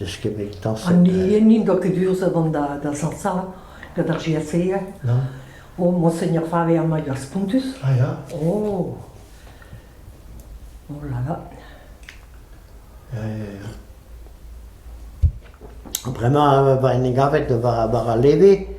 Eskemmit dañset. An n'int ket urzhet an da da sañsañ gant ar GSE. Non. O, Monseigneur Faber mañ ur spontus. Ah ya. Oh. Oh là là. Ya, ya, ya. Bremañ, war en e gavet war, war al leve,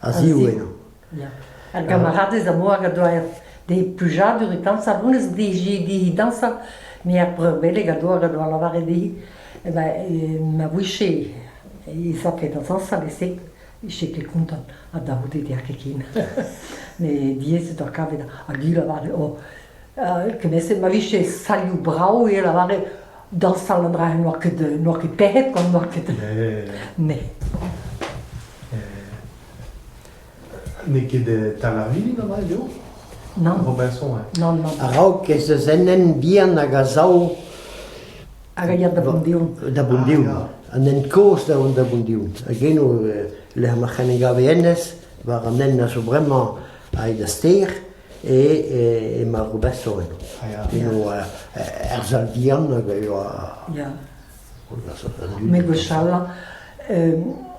a-ziv henañ. Ar gamaradez am boa a doa d'he plujadur e dañsal, honnezh dije he dañsal, me ar breur beleg a doa a doa lavaret dezhi eh ben eh ma vije he zaket da zañsal e-se, ije ket kontant ha da c'houde deoc'h ket ken. Met diaes eo deoc'h kavet ar gwir avat, oh Kement-se ma vije salioù brav e lavare dañsal an dra-se n'oa ket n'oa ket pec'hed gant n'oa ket ne. N'eo ket tamarvili mat eo? Nann. Robinson, hein? Nann, nann. A-raok ez eus enen bihan hag a sav. Hag a ya da Boundion. Da Boundion. An hent kozh da vont da Boundion. Hag eno, lec'h ma c'hen e gave hennezh, war an hent a zo bremañ aet da stêr. e Margobesoen, eo er sal vihan hag a ioa... Ya. Me gwechall,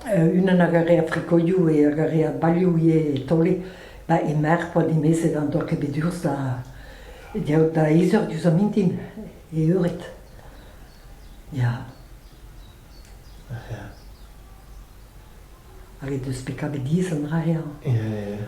unan a gare a frikoiou e a gare a baliou ivez e taole, ba e merc'h oa dimezet an doa ket bet urz da diaout da eizeur diouz an mintin, e eured. Ya. Hag e deus bet kavet diz an dra-ya. Ya, ya.